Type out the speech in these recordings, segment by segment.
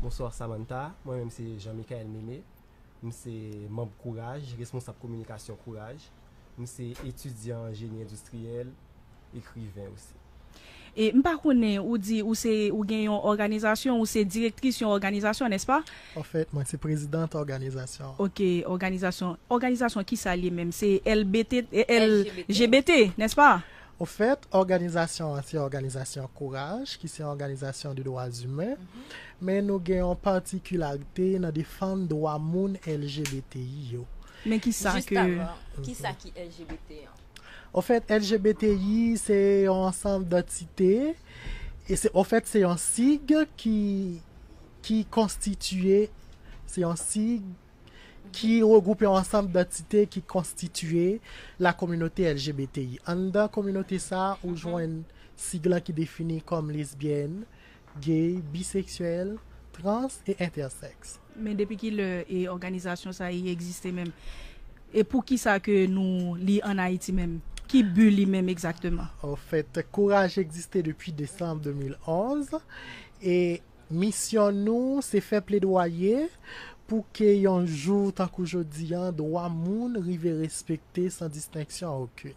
Bonsoir Samantha, mwen menm se Jean Michael Meme, m se manb Kouraj, responsab kominikasyon Kouraj. M se etidyan an jeni endistriyèl, ekriven osi. E m pa konnen, ou di ou se, ou gen yon òganizasyon, ou se direktris yon òganizasyon, nèspa? Anfèt, mwen se prezidant òganizasyon an. Ok, òganizasyon, òganizasyon kisa l ye menm? Se LGBT, LGBT, nèspa? Ofèt, òganizasyon an se òganizasyon kouraj ki se yon òganizasyon de dwa zimen, men nou gen yon patikilarite nan defann dwa moun LGBTI yo. Men ki sa ke. Jistavan, ki sa ki LGBT an? Ofèt, LGBTI se yon ansanm dantite, e se, ofèt, se yon sig ki, ki konstitiye, se yon sig ki regwoupe yon ansanm dantite ki konstitiye la kominote LGBTI. Anndan kominote sa a, ou jwenn sig lan ki defini kòm lesbyèn, gay, biseksyèl, trans e entèsèks. Men depi ki lè òganizasyon sa a egziste menm? E pou ki sa ke nou li ann Ayiti menm? Ki bi li menm egzakteman? Anfèt, Kouraj egziste depi desanm 2011 e Misyon nou se fè pledwaye pou ke yon jou tankou jodi an dwa moun rive respekte san distenksyon okin.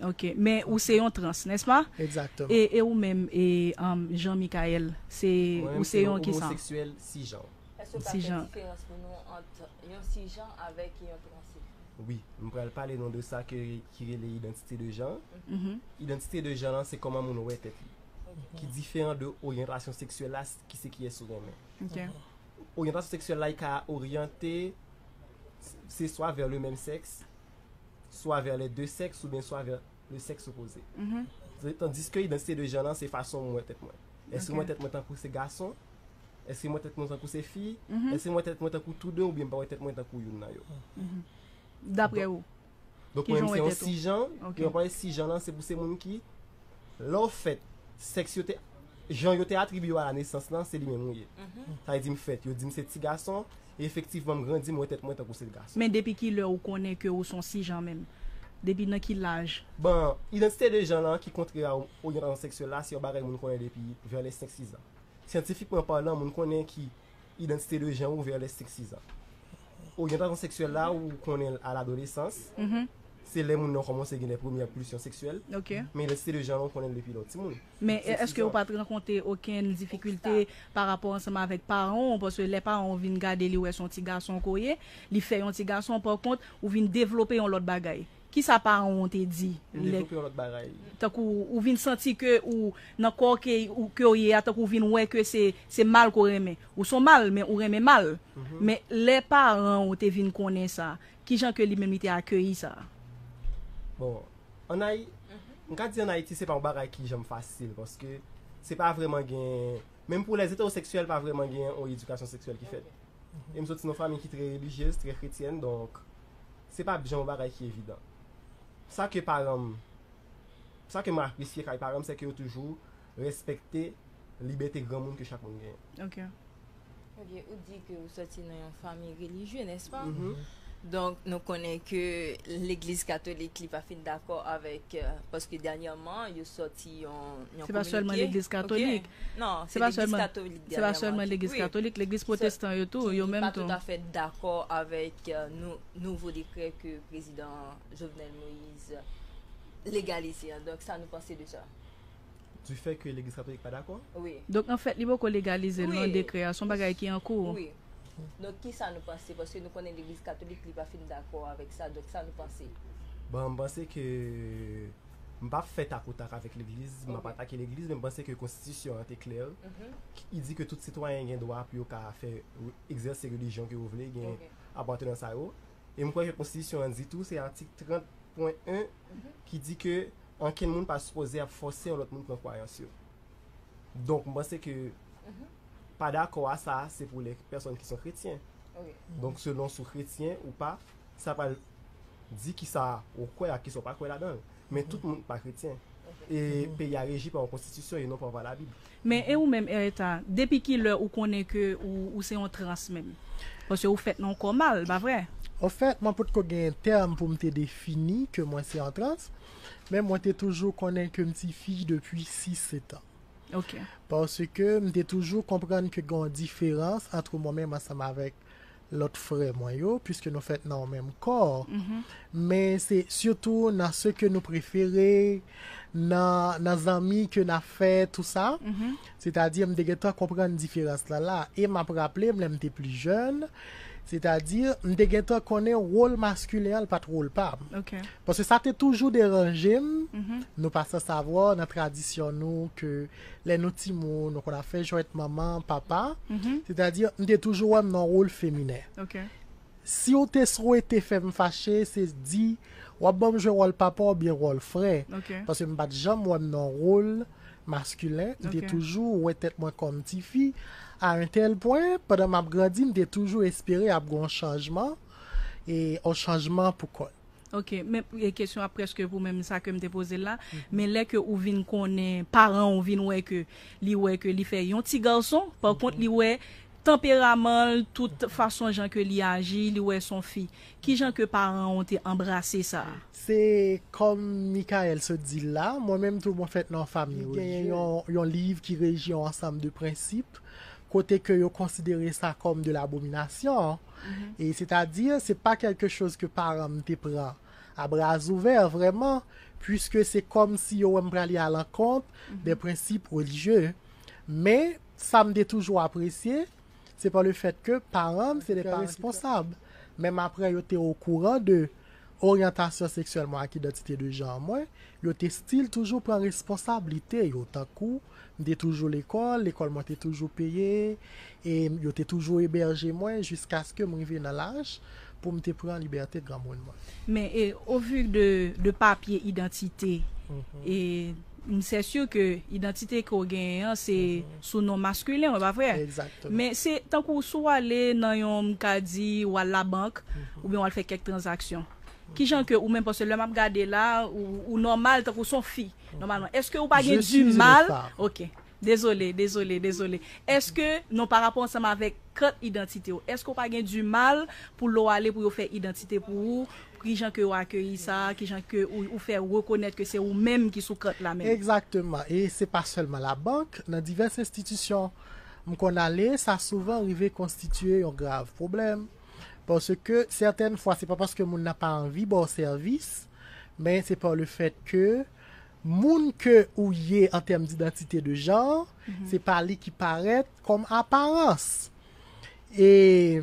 Ok. Men ou se yon trans, n'est-ce pas? Exactement. E ou menm e Jean Michaël, se ou se yon kisa? Mwen menm se yon homoseksyèl sijan. Èske ou ka fè diferans pou nou ant yon sijan avèk yon transsexuel? Wi. M pral pale nou de sa ke ki rele identité de genre. Identité de genre lan se kòman moun wè tèt li. ki diferan de oryantasyon seksyèl la ki se kiyès ou renmen. Ok. Oryantasyon seksyèl la ka oryante se swa vè le menm sèks, swa vè le de sèks ou byen swa vè le sèks opoze. Mm-hmm. Tandiske idantite de jan lan se fason mwen tèt mwen. Eske mwen tèt mwen tankou se gason? Eske mwen tèt mwen tankou se fi? Mm-hmm. Eske mwen tèt mwen tankou tou de ou byen mwen tèt mwen tankou youn nan yo? Mm-hmm. Daprè ou? Donk pou mwen se yon sijan, e yon pale sijan lan se pou se moun ki lè w fèt, sèks yo te, jan yo te atribiye w a la nesans lan se li menm ou ye. Sa vle di m fèt, yo di m se ti gason, e efektivman m grandi m wè tèt mwen tankou se gason. Men depi ki lè ou konnen ke ou se yon sijan menm? Depi nan ki laj? Bon, idantite de jan lan ki kontre a oryantasyon seksyèl la se yon bagay moun konnen depi vè lè senk sizan. Syantifikman palan moun konnen ki Identité de genre ou vers les 5-6 ans. Oryantasyon seksyèl la ou konnen l a ladolesans, se lè moun nan kòmanse gen lè premyè pulsyon seksyèl, men identité de genre la ou konnen l depi lè w ti moun. Men èske ou pa t rankonte okenn difikilte pa rapò ansanm avèk paran w, paske lè paran w vin gade li wè s on ti gason ke w ye, li fè yon ti gason, pa kont ou vin devlope yon lòt bagay. Kisa paran w an te di? Li devlope yon lòt bagay. Tankou ou vin santi ke ou nan kò ke w ye a, tankou ou vin wè ke se mal ke w renmen. Ou son mal, men ou renmen mal. Men lè paran w te vin konnen sa, kijan ke li menm li te akeyi sa? Bon, an Ayi, m ka di an Ayiti se pa yon bagay ki janm fasil, paske se pa vreman gen, menm pou lè eteroseksyèl pa vreman gen yon edikasyon seksyèl ki fèt. E m soti nan yon fanmi ki trè relijyez, trè kretyèn, donk se pa bjè yon bagay ki evidan. Sa ke paran m, sa ke m apresye kay paran m se ke yo toujou respekte libète granmoun ke chak moun genyen. Ok. Ok, ou di ke ou soti nan yon fanmi relijye, nèspa? Donk nou konnen ke legliz katolik li pa fin dakò avèk, paske dènyèman yo soti yon kominote. Se pa sèlman legliz katolik. Non, se legliz katolik dènyeman. Se pa sèlman legliz katolik, legliz pwotestan yo tou, yo menm tou. Ki pa toutafè dakò avèk nouvo dekrè ke prezidan Jovenel Moïse legalize an. Donk sa nou panse de sa? Du fè ke legliz katolik pa dakò? Wi. Donk anfèt li poko legalize l non dekrè a, son bagay ki an kou? Wi. Donk ki sa nou panse? Paske nou konnen legliz katolik li pa fin dakò avèk sa, donk sa nou panse? Bon, m panse ke. M pa fè tak o tak avèk legliz, m ap atake legliz, men m panse ke konstitisyon an te klè, ki di ke tout sitwayen gen dwa pou yo ka fè, egzèse relijyon ke yo vle, gen apatènans sa yo. E m kwè ke konstitisyon an di tou, se atik 30 pwen 1, ki di ke ankenn moun pa sipoze ap fòse yon lòt moun pran kwayans yo. Donk m panse ke pa dakò a sa, se pou lè pèsòn ki son kretyen. Donk selon si w kretyen ou pa, sa pral. di ki sa ou kwè ak ki sa ou pa kwè ladan l. Men tout moun pa kretyen. E peyi a reji pa yon konstitisyon e non pa pa labib. Men e ou menm Eretha, depi ki lè ou konnen ke ou se yon trans menm? Paske ou fèt nan yon kò mal, pa vre? Anfèt, mwen potko gen tèm pou m te defini ke mwen se yon trans, men mwen te toujou konnen ke m ti fi depi 6 setan. Ok. Paske m te toujou konprann ke gen yon diferans antre mwen menm ansanm avèk lòt frè mwen yo, piske nou fèt nan yon menm kò, men se sitou nan se ke nou prefere, nan zanmi ke n ap fè tou sa, sètadi m te gen tan konprann diferans lan la, e m ap raple m lè m te pli jèn, sètadi m te gen tan konnen wol maskilen an l pa t wol pa m, paske sa te toujou deranje m, nou pa san savwa nan tradisyon nou ke. Lè nou timoun, nou konn ap fè jwèt manman, papa, sètadi m te toujou wè m nan wol feminen. Si w te swete fè m fache, se di w ap ban m jwe wòl papa oubyen wòl frè. Paske m pa t janm wè m nan wol maskilen, m te toujou wè tèt mwen kòm tifi. A un tel pwen, pandan m ap grandi, m te toujou espere ap gen yon chanjman, yon chanjman pou kò l. Ok men kesyon ap preske pou menm sa kem te pozel la men lè ke ou vin konnen paran ou vin wè ke li wè ke li fè yon ti garson pa kont li wè tanperamanl tout fason jan ke li aji li wè son fi kijan ke paran ou te anbrase sa a. Se kòm Mickaël sot di l la, mwen menm tou mwen fèt nan yon fami relijye. Gen yon liv ki reji yon ansanm de prensip kote ke yo konsidere sa kòm de l'abomination. e sètadi se pa kèlke choz ke paran m te pran a brazouvè vrèman, puiske se kòm si yo wè m prale a lankont dè prensip relijye. Men, sa m te toujou apresye, se pa le fèt ke paran m se dè paran ki trè responsab, menm apre yo te okouran de. oryantasyon seksyèl mwen ak idantite de janr mwen, yo te stil toujou pran responsablite yo tankou m te toujou lekòl, lekòl mwen te toujou peye e yo te toujou ebèje mwen jiskaske m rive nan laj pou m te pran libète granmoun mwen. Men e ovu de papye idantite e. M sè sur ke idantite ke w genyen an se sou non masculin w pa vre? Exactement. Men se tankou si w ale nan yon m ka di w al labank oubyen w al fè kèk tranzaksyon. Kijan ke ou menm paske lè m ap gade la ou ou nòmal tankou s on fi nòmalman eske ou pa gen Jis di mal? reta. Ok. Dezole, dezole, dezole. Eske, non pa rapò ansanm avèk kat idantite w, eske w pa gen di mal pou lè w ale pou yo fè idantite pou ou, ki jan ke yo akeyi sa, ki jan ke ou fè rekonèt ke se ou menm ki sou kat la menm? Egzakteman, e se pa sèlman labank, nan divès enstitisyon m konn ale, sa souvan rive konstitye yon grav pwoblèm, paske sètèn fwa se pa paske moun nan pa anvi ba w sèvis, men se pa le fèt ke. Moun ke ou ye an tèm d'idantite de janr, se pa li ki parèt kòm aparans. E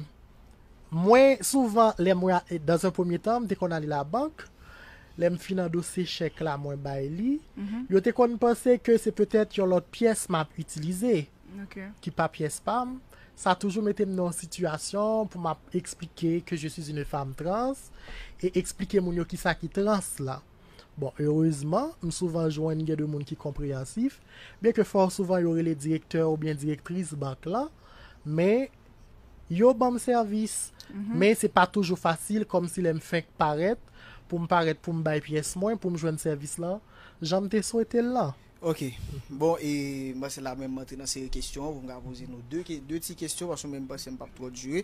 mwen souvan lè mwen a, dans un premier temps m te konn ale labank, lè m fin andose chèk la mwen bay li, yo te konn panse ke se petèt yon lòt pyès m ap itilize, ki pa pyès pa m. Sa toujou mete m nan yon sitiyasyon pou m ap eksplike ke je suis une femme trans e eksplike moun yo kisa ki trans la. Bon, erezman, m souvan jwenn gen de moun ki konpreyansif, byenke fò souvan yo rele direktè oubyen direktris bank lan, men yo ban m sèvis. Men se pa toujou fasil, kòmsi lè m fenk parèt, pou m parèt pou m bay pyès mwen, pou m jwenn sèvis lan jan m te swete l lan. Ok bon e mwen se la menm antre nan seri kesyon an pou m ka poze nou 2 ke 2 ti kesyon paske mwen menm panse m pap twò dire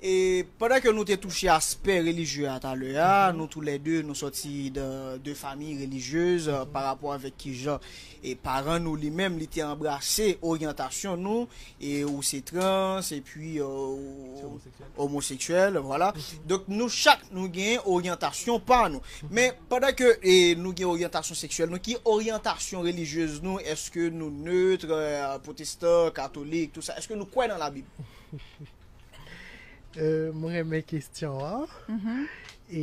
e pandan ke nou te touche aspè relijye a talè a nou tou lè 2 nou sòti dan 2 famiy relijyez pa rapò avèk kijan e paran nou li menm li te anbrase oryantasyon nou e ou se trans e pi ou Omoseksyèl, vwala. Donk nou chak nou gen oryantasyon pa nou. Men, pandan ke nou gen oryantasyon seksyèl nou, ki oryantasyon relijyez nou? Eske nou neutre, protestan, katolik, tout sa? Eske nou kwè nan labib? M renmen kesyon an. E,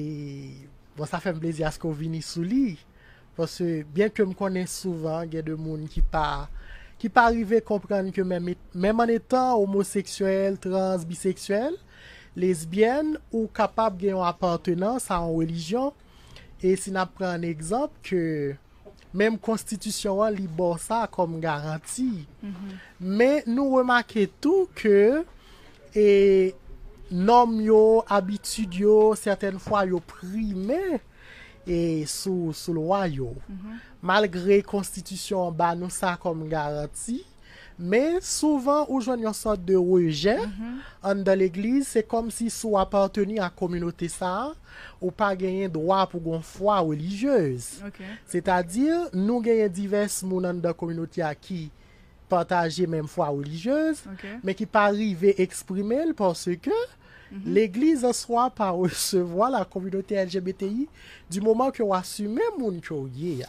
bon sa fè m plezi aske w vini sou li. Paske byen ke m konnen souvan gen de moun ki pa ki pa rive konprann ke menm e menm an etan omoseksyèl, trans, biseksyèl, lesbyèn ou kapab gen yon apatenans a yon relijyon e si n ap pran an egzanp ke menm konstitisyon an li ba w sa kòm garanti. Men nou remake tou ke e nòm yo, abitid yo sètèn fwa yo prime. e sou sou lwa yo. Malgre konstitisyon an ba nou sa kòm garanti, men souvan ou jwenn yon sòt de rejè anndan legliz, se kòmsi si w apateni ak kominote sa, ou pa genyen dwa pou gon fwa relijyez. Sètadi nou genyen divès moun anndan kominote a ki pataje menm fwa relijyez, men ki pa rive eksprime l paske legliz answa pa resevwa la kominote LGBTI di moman ke w asime moun ke w ye a.